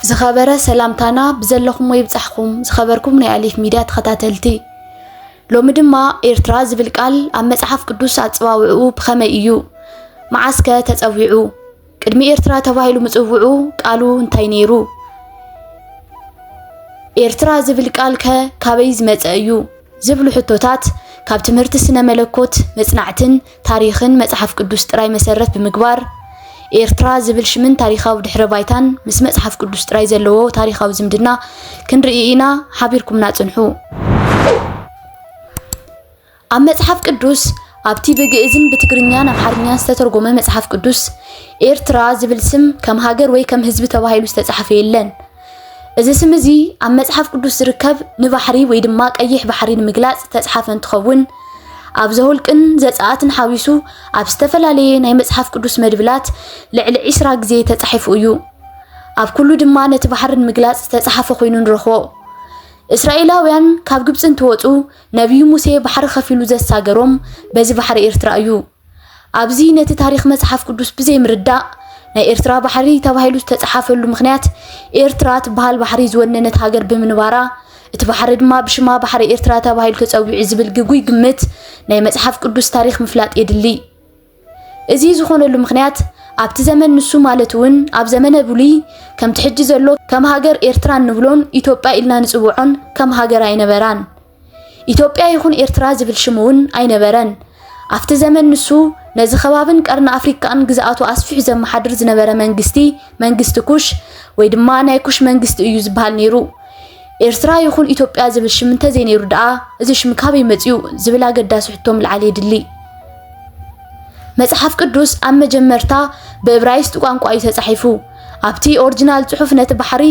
ዝኸበረ ሰላምታና ብዘለኹሞ ይብጻሕኩም ዝኸበርኩም ናይ ኣሊፍ ሚድያ ተኸታተልቲ። ሎሚ ድማ ኤርትራ ዝብል ቃል ኣብ መጽሓፍ ቅዱስ ኣጸዋውዕኡ ብኸመይ እዩ? መዓስከ ተጸዊዑ? ቅድሚ ኤርትራ ተባሂሉ ምጽውዑ ቃሉ እንታይ ነይሩ? ኤርትራ ዝብል ቃል ከ ካበይ ዝመጸ እዩ? ዝብሉ ሕቶታት ካብ ትምህርቲ ስነ መለኮት መጽናዕትን ታሪኽን መጽሓፍ ቅዱስ ጥራይ መሰረት ብምግባር፣ ኤርትራ ዝብል ሽምን ታሪኻዊ ድሕረ ባይታን ምስ መጽሓፍ ቅዱስ ጥራይ ዘለዎ ታሪኻዊ ዝምድና ክንርኢ ኢና፣ ሓቢርኩምና ጽንሑ። ኣብ መጽሓፍ ቅዱስ፣ ኣብቲ ብግእዝን ብትግርኛን ኣምሓርኛን ዝተተርጎመ መጽሓፍ ቅዱስ፣ ኤርትራ ዝብል ስም ከም ሃገር ወይ ከም ህዝቢ ተባሂሉ ዝተጻሕፈ የለን። እዚ ስም እዚ ኣብ መጽሓፍ ቅዱስ ዝርከብ ንባሕሪ ወይ ድማ ቀይሕ ባሕሪ ንምግላጽ ዝተጽሓፈ እንትኸውን ኣብ ዘውልቅን ዘጸኣትን ሓዊሱ ኣብ ዝተፈላለየ ናይ መጽሓፍ ቅዱስ መድብላት ልዕሊ ዒስራ ግዜ ተጻሒፉ እዩ። ኣብ ኩሉ ድማ ነቲ ባሕሪ ንምግላጽ ዝተጻሓፈ ኮይኑ ንረኽቦ። እስራኤላውያን ካብ ግብጺ እንትወጹ ነቢዩ ሙሴ ባሕሪ ከፊሉ ዘሳገሮም በዚ ባሕሪ ኤርትራ እዩ። ኣብዚ ነቲ ታሪኽ መጽሓፍ ቅዱስ ብዘይ ምርዳእ ናይ ኤርትራ ባሕሪ ተባሂሉ ዝተጻሓፈሉ ምኽንያት ኤርትራ ትበሃል ባሕሪ ዝወነነት ሃገር ብምንባራ እቲ ባሕሪ ድማ ብሽማ ባሕሪ ኤርትራ ተባሂሉ ተጸዊዑ ዝብል ግጉይ ግምት ናይ መጽሓፍ ቅዱስ ታሪኽ ምፍላጥ የድሊ። እዚ ዝኾነሉ ምኽንያት ኣብቲ ዘመን ንሱ ማለት እውን ኣብ ዘመነ ብሉይ ከምቲ ሕጂ ዘሎ ከም ሃገር ኤርትራ እንብሎን ኢትዮጵያ ኢልና ንጽውዖን ከም ሃገር ኣይነበራን። ኢትዮጵያ ይኹን ኤርትራ ዝብል ሽም እውን ኣይነበረን። ኣብቲ ዘመን ንሱ ነዚ ከባብን ቀርኒ ኣፍሪካን ግዝኣቱ ኣስፊሑ ዘመሓድር ዝነበረ መንግስቲ መንግስቲ ኩሽ ወይ ድማ ናይ ኩሽ መንግስቲ እዩ ዝበሃል ነይሩ። ኤርትራ ይኹን ኢትዮጵያ ዝብል ሽም እንተዘይነይሩ ደኣ እዚ ሽም ካበይ መፅኡ ዝብል ኣገዳሲ ሕቶ ምልዓል የድሊ። መጽሓፍ ቅዱስ ኣብ መጀመርታ ብእብራይስጥ ቋንቋ እዩ ተጻሒፉ። ኣብቲ ኦሪጂናል ጽሑፍ ነቲ ባሕሪ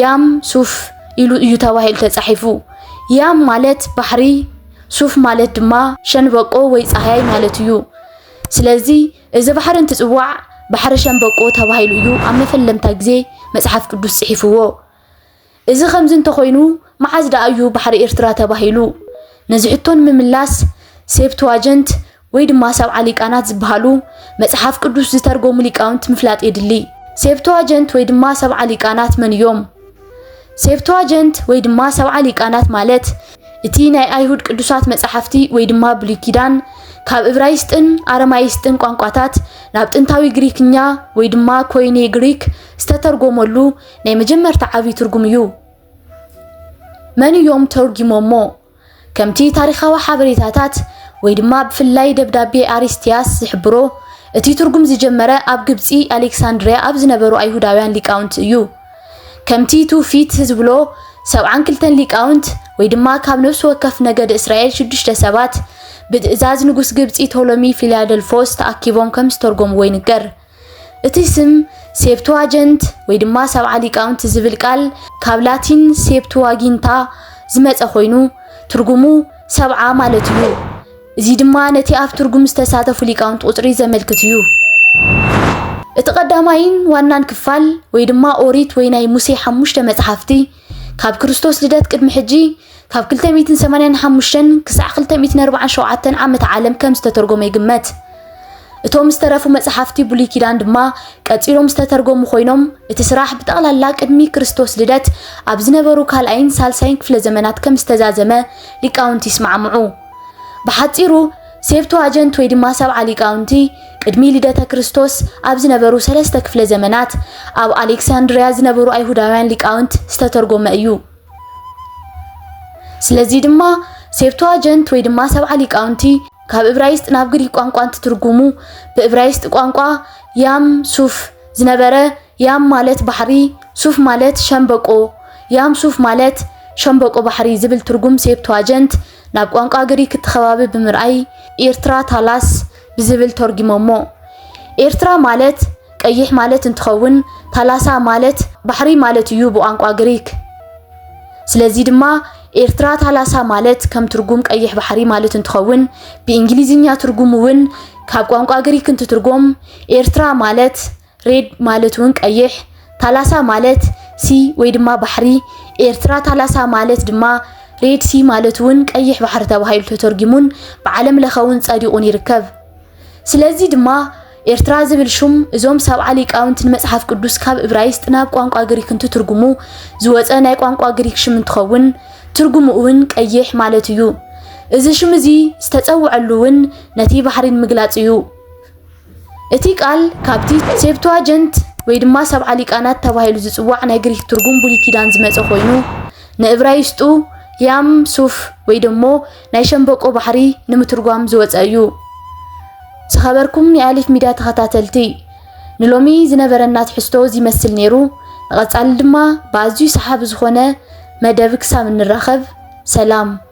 ያም ሱፍ ኢሉ እዩ ተባሂሉ ተጻሒፉ። ያም ማለት ባሕሪ፣ ሱፍ ማለት ድማ ሸንበቆ ወይ ጻህያይ ማለት እዩ። ስለዚ እዚ ባሕሪ እንትጽዋዕ ባሕሪ ሸንበቆ ተባሂሉ እዩ ኣብ መፈለምታ ግዜ መጽሓፍ ቅዱስ ጽሒፍዎ። እዚ ከምዚ እንተኾይኑ መዓዝ ደኣ እዩ ባሕሪ ኤርትራ ተባሂሉ? ነዚ ሕቶ ንምምላስ ሴፕትዋጀንት ወይ ድማ ሰብዓ ሊቃናት ዝበሃሉ መጽሓፍ ቅዱስ ዝተርጎሙ ሊቃውንት ምፍላጥ የድሊ። ሴፕቱዋጀንት ወይ ድማ ሰብዓ ሊቃናት መን እዮም? ሴፕቱዋጀንት ወይ ድማ ሰብዓ ሊቃናት ማለት እቲ ናይ ኣይሁድ ቅዱሳት መጻሕፍቲ ወይ ድማ ብሉይ ኪዳን ካብ እብራይስጥን ኣረማይስጥን ቋንቋታት ናብ ጥንታዊ ግሪክኛ ወይ ድማ ኮይኔ ግሪክ ዝተተርጎመሉ ናይ መጀመርታ ዓብዪ ትርጉም እዩ። መን እዮም ተርጒሞሞ? ከምቲ ታሪኻዊ ሓበሬታታት ወይ ድማ ብፍላይ ደብዳቤ ኣሪስቲያስ ዝሕብሮ፣ እቲ ትርጉም ዝጀመረ ኣብ ግብጺ ኣሌክሳንድርያ ኣብ ዝነበሩ ኣይሁዳውያን ሊቃውንት እዩ። ከምቲ ትውፊት ዝብሎ ሰብዓን ክልተን ሊቃውንት ወይ ድማ ካብ ነፍሲ ወከፍ ነገድ እስራኤል ሽዱሽተ ሰባት ብትእዛዝ ንጉስ ግብጺ ቶሎሚ ፊልያደልፎስ ተኣኪቦም ከም ዝተርጎምዎ ይንገር። እቲ ስም ሴፕቱዋጀንት ወይ ድማ ሰብዓ ሊቃውንቲ ዝብል ቃል ካብ ላቲን ሴፕቱዋጊንታ ዝመጸ ኮይኑ ትርጉሙ ሰብዓ ማለት እዩ። እዚ ድማ ነቲ ኣብ ትርጉም ዝተሳተፉ ሊቃውንቲ ቁጽሪ ዘመልክት እዩ። እቲ ቀዳማይን ዋናን ክፋል ወይ ድማ ኦሪት ወይ ናይ ሙሴ ሓሙሽተ መጽሓፍቲ ካብ ክርስቶስ ልደት ቅድሚ ሕጂ ካብ 285 ክሳዕ 247 ዓመተ ዓለም ከም ዝተተርጎመ ይግመት። እቶም ዝተረፉ መጽሓፍቲ ብሉይ ኪዳን ድማ ቀጺሎም ዝተተርጎሙ ኮይኖም እቲ ስራሕ ብጠቕላላ ቅድሚ ክርስቶስ ልደት ኣብ ዝነበሩ ካልኣይን ሳልሳይን ክፍለ ዘመናት ከም ዝተዛዘመ ሊቃውንቲ ይስማዕምዑ። ብሓጺሩ ሴፕቱዋጀንት ወይ ድማ ሰብዓ ሊቃውንቲ ቅድሚ ልደተ ክርስቶስ ኣብ ዝነበሩ ሰለስተ ክፍለ ዘመናት ኣብ ኣሌክሳንድርያ ዝነበሩ ኣይሁዳውያን ሊቃውንት ዝተተርጎመ እዩ። ስለዚ ድማ ሴፕቱዋጀንት ወይ ድማ ሰብዓ ሊቃውንቲ ካብ እብራይስጥ ናብ ግሪክ ቋንቋ እንትትርጉሙ ብእብራይስጥ ቋንቋ ያም ሱፍ ዝነበረ ያም ማለት ባሕሪ ሱፍ ማለት ሸምበቆ ያም ሱፍ ማለት ሸምበቆ ባሕሪ ዝብል ትርጉም ሴፕቱዋጀንት ናብ ቋንቋ ግሪክ እቲ ከባቢ ብምርኣይ ኤርትራ ታላስ ብዝብል ተርጒሞሞ። ኤርትራ ማለት ቀይሕ ማለት እንትኸውን ታላሳ ማለት ባሕሪ ማለት እዩ ብቋንቋ ግሪክ። ስለዚ ድማ ኤርትራ ታላሳ ማለት ከም ትርጉም ቀይሕ ባሕሪ ማለት እንትኸውን ብእንግሊዝኛ ትርጉሙ እውን ካብ ቋንቋ ግሪክ እንትትርጎም ኤርትራ ማለት ሬድ ማለት እውን ቀይሕ፣ ታላሳ ማለት ሲ ወይ ድማ ባሕሪ፣ ኤርትራ ታላሳ ማለት ድማ ሬድ ሲ ማለት እውን ቀይሕ ባሕሪ ተባሂሉ ተተርጊሙን ብዓለም ለኸ እውን ጸዲቑን ይርከብ። ስለዚ ድማ ኤርትራ ዝብል ሹም እዞም ሰብዓ ሊቃውንቲ ንመጽሓፍ ቅዱስ ካብ እብራይስጥ ናብ ቋንቋ ግሪክ እንትትርጉሙ ዝወፀ ናይ ቋንቋ ግሪክ ሽም እንትኸውን ትርጉሙ እውን ቀይሕ ማለት እዩ። እዚ ሽም እዚ ዝተጸውዐሉ እውን ነቲ ባሕሪ ንምግላጽ እዩ። እቲ ቃል ካብቲ ሴፕቱዋጀንት ወይ ድማ ሰብዓ ሊቃናት ተባሂሉ ዝጽዋዕ ናይ ግሪክ ትርጉም ብሉይ ኪዳን ዝመጸ ኮይኑ ንእብራይስጡ ያም ሱፍ ወይ ደሞ ናይ ሸምበቆ ባሕሪ ንምትርጓም ዝወጸ እዩ። ዝኸበርኩም ናይ ኣሊፍ ሚድያ ተኸታተልቲ ንሎሚ ዝነበረና ትሕዝቶ እዚ ይመስል ነይሩ። ንቐጻሊ ድማ ብኣዝዩ ሰሓቢ ዝኾነ መደብ ክሳብ እንራኸብ ሰላም።